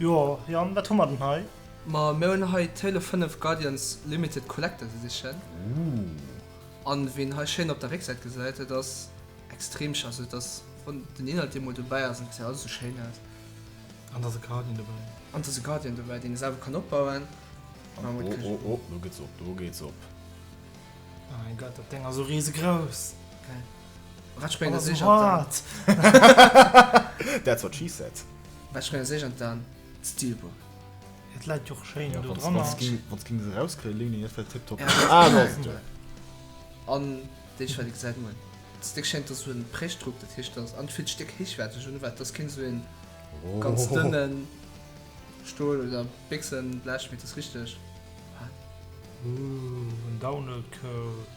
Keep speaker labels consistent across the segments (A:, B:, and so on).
A: Jo Jan, wat hu mer den hei? Ma mir hunn hei
B: d'Halo 5 Guardians Limited Collector's Edition. Ooh. An wéi een hei schéin op der Récksäit gesäit, et ass extrem schéin, also et ass wann den Inhalt eemol dobäi ass, et gesäit alles esou schéin aus. An et ass e
A: Guardian dobäi. An et ass e Guardian
B: dobäi, deen ee selwer kann opbauen. An oh
C: oh oh, do gëtt se op, do geet se op.
A: Mäi Gott, dat Deng ass esou riesegrouss. Geil.
B: Wat sprénge sech an d'An?
A: That's
C: what she said. Wat sprénge sech an
B: d'An? D'Steelbook. Et läit
A: jo och schéin do dranner. Wann s
C: ging
A: se
C: rauskréien, léngen ech fir tiptop. Ah do ass et jo. An
B: déi Schwell déi gesäit moien. D'Stéck schéngt ass esou en Prächtdruck, dat heescht ass an villt Stéck héichwäerteg un wat ass keen esou een ganz dënnen Stool oder Béchsenblech mee et ass richteg. Ooh
A: en Download Code.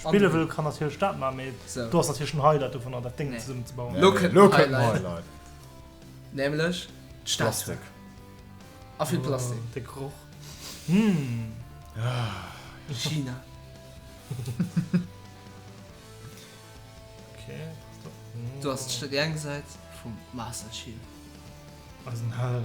A: Spille wëll kann natierlech dat man, mee do ass natierlech den
B: Highlight
A: dovunner dat Déng zesummen ze bauen.
B: Lo
A: kënnt den
B: Highlight.
C: Nämlech
B: d'Statue. A vill Plastik. De Geroch. China.
A: Du ass
B: d'Stärengsäit vum Master Chief. Eisen
A: Held.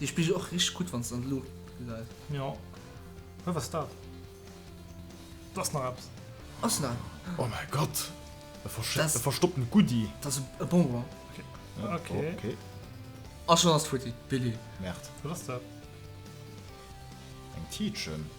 C: Dee Spigel och
B: richteg gutt wanns de an d'Luucht gesäis. Jo.
A: Hä wat ass dat? Do ass nach eppes. Ass nach eppes?
B: Oh mäi Gott!
C: E versch e
B: verstoppten Goodie!
C: Dat ass e Bonbon.
B: Ok.
C: Ok. A schonn ass
B: et futti. Billy. Merde. Wat ass dat?
A: Eng
C: Tiitchen.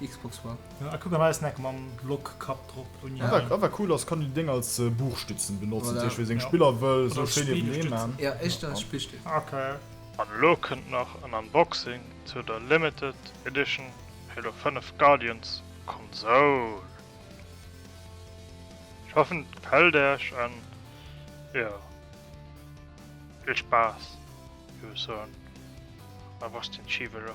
B: Xbox war. Ah kuck an eisen Eck
A: mam Block Kapp drop. Wat awer cool ass, kann
B: een déi Déng
C: als Buchstützen benotzen, dat heescht wee seng Spiller wëll esou schéi niewendee maan. Jo, echt
A: als
B: Spillstütz. An
A: elo kënnt
D: nach en Unboxing zu der Limited Edition Halo 5 Guardians Konsoul. Ech hoffen et gefällt Äech an jo, vill Spaass, wéi ech soen, a wosst den Chief elo.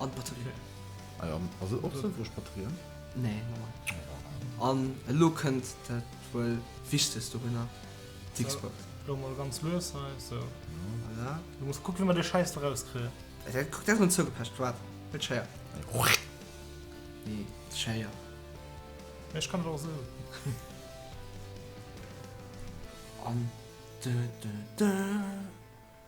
C: An
B: d'Batterie. Ah jo,
C: ass et och sënnvoll Batterien? Nee,
B: normal. An elo kënnt dat wuel Wichtegst dorunner, d'Xbox. Elo mol ganz lues
A: hei, sou. Voilà.
B: Du muss kucken, wéi mer dee
A: Schäiss do rauskréien. Kuck, dat ass mol
B: zougepecht, waart, net scheier. Nee, scheier.
A: Mee ech kann et och esou.
B: An. Dö dö dö.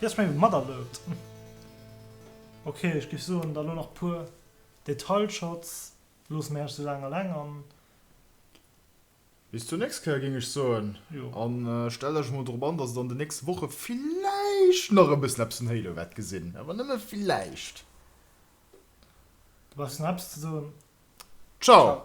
A: Yes, meng et materloupt. Ok, ech géif soen, da lo nach puer Detailshots, loosse mir Äech sou laang alleng an.
C: Bis zur nächst Kéier géing ech soen. Jo. An stellt
A: Äech emol
C: drop an, dass et an de nächste Woche villäicht nach e bëssen eppes vun Halo wäert gesinn, awer nëmme villäicht.
A: Du
C: brauchs nach eppes
A: ze soen? Ciao!